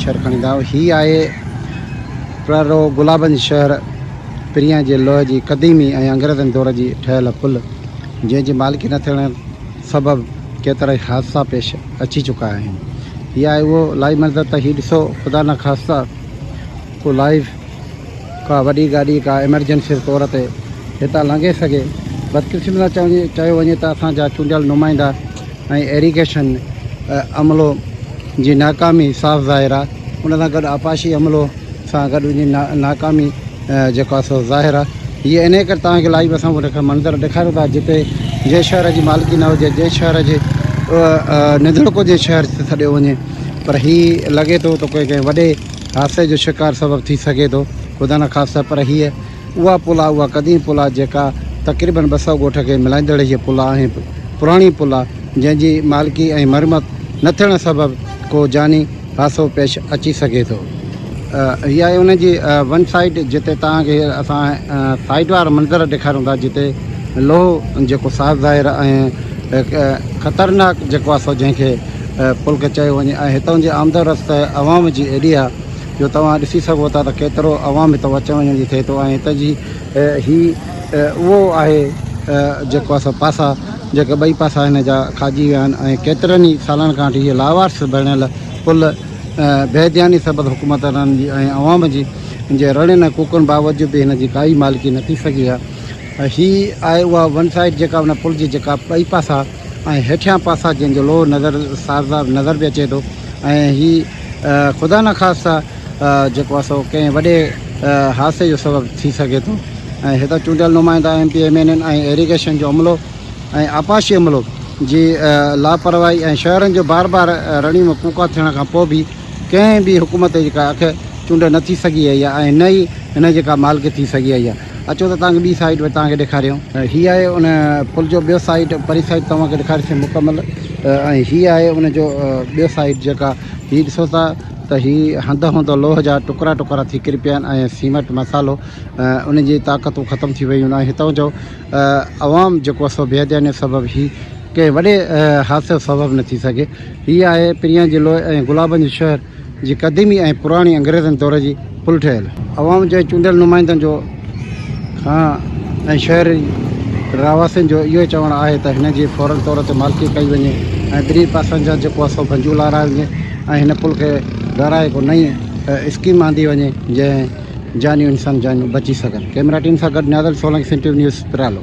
شهر کڻي دانهون هي آهي پرارو گلابن جي شهر پريان جي لوهه جي قديمي ۽ انگريزن دور جي ٺهيل پل جنهن جي مالڪي نه ٿيڻ سبب ڪيترائي حادثا پيش اچي چڪا آهن هي آهي اهو لائيو منظر ته هي ڏسو خدا نخواسته ڪو لائيو ڪا وڏي گاڏي ڪا ايمرجنسي طور تي هتان لنگهي سگهي. بدقسمتي سان چيو وڃي ته اسان جا چونڊيل نمائندا ۽ ايريگيشن عملو جي ناڪامي صاف ظاهر آهي. ان سان گڏ آبپاشي عملو سان گڏ ان جي ناڪامي جيڪو آهي سو ظاهر آهي. هيء انهيء ڪري توهان کي لائيو اسان اهڙا منظر ڏيکاريون ٿا جتي جنهن شهر جي مالڪي نه هجي، جنهن شهر جي ننڌڻڪو جنهن شهر سڏيو وڃي پر هي لڳي ٿو ته ڪنهن وڏي حادثي جو شڪار سبب ٿي سگهي ٿو خدا نخواسته پر هيء اها پل آهي اها قديم پل آهي جيڪا تقريبن ٻه سؤ ڳوٺ کي ملائيندڙ هيء پل آهي ۽ پراڻي پل آهي جنهن جي مالڪي ۽ مرمت نه ٿيڻ سبب ڪو جاني حادثو پيش اچي سگهي ٿو. هي آهي ان جي ون سائيڊ جتي توهان کي اسان سائيڊ وارا منظر ڏيکاريون ٿا جتي لوهه جيڪو صاف ظاهر ۽ خطرناڪ جيڪو آهي سو جنهن کي پلڪ چيو وڃي ۽ هتان جي آمد و رفت عوام جي ايڏي آهي جو توهان ڏسي سگهو ٿا ته ڪيترو عوام هتان اچڻ وڃڻ جي ٿئي ٿو ۽ هتان جي هي اهو آهي جيڪو اسان پاسا جيڪي ٻئي پاسا هن جا کاڄي ويا آهن ۽ ڪيترن ئي سالن کان وٺي هي لاوارث بڻيل پل بيدياني سبب حڪومتدارن جي ۽ عوام جي جي رڙين ۽ ڪوڪن باوجود به هن جي ڪائي مالڪي نه ٿي سگهي آهي هي آهي اها ون سائيڊ جيڪا ان پل جي جيڪا ٻئي پاسا ۽ هيٺيان پاسا جن جو لوهه نظر سارزا نظر به اچي ٿو ۽ هي خدا نخواسته جيڪو آهي سو ڪنهن وڏي حادثي جو سبب ٿي سگهي ٿو ۽ هتان چونڊيل نمائندا M P M N N ۽ irrigation جو عملو ۽ آبپاشي عملو جي لاپرواهي ۽ شهرن جو بار بار رڻي ۾ ڪوڪا ٿيڻ کان پوء به ڪنهن به حڪومت جي ڪا اک چونڊ نه ٿي سگهي آهي ۽ نه ئي هن جي ڪا مالڪي ٿي سگهي آهي اچو ته توهان کي ٻي سائيٽ به توهان کي ڏيکاريون. هي آهي ان پل جو ٻيو سائيٽ پرين سائيٽ توهان کي ڏيکاريسين مڪمل ۽ هي آهي ان جو ٻيو سائيٽ جيڪا هي ڏسو ٿا ته هي هنڌ هنڌ لوهه جا ٽڪرا ٽڪرا ٿي ڪري پيا آهن ۽ سيمٽ مصالحو ان جي طاقتون ختم ٿي ويون آهن هتان جو عوام جيڪو سو بي ڌياني سبب هي ڪنهن وڏي حادثي جو سبب نه ٿي سگهي هي آهي پريان جي لوء ۽ گلابن جو شهر. جي قديمي ۽ پراڻي انگريزن دور جي پل ٺهيل. عوام جي چونڊيل نمائندن جو کان ۽ شهري رهواسين جو اهو چوڻ آهي ته هن جي فورن طور تي مالڪي ڪئي وڃي ۽ ٻنهي پاسن جا جيڪو اثو ڀنجون لارائي وڃي ۽ هن پل کي ڳارائي ڪو نئين اسڪيم آندي وڃي جنهن جانيون انسان جانيون بچي سگهن ڪئميرا ٽيم سان گڏ نيازل سولنگي سنڌ ٽي وي نيوز پرالو.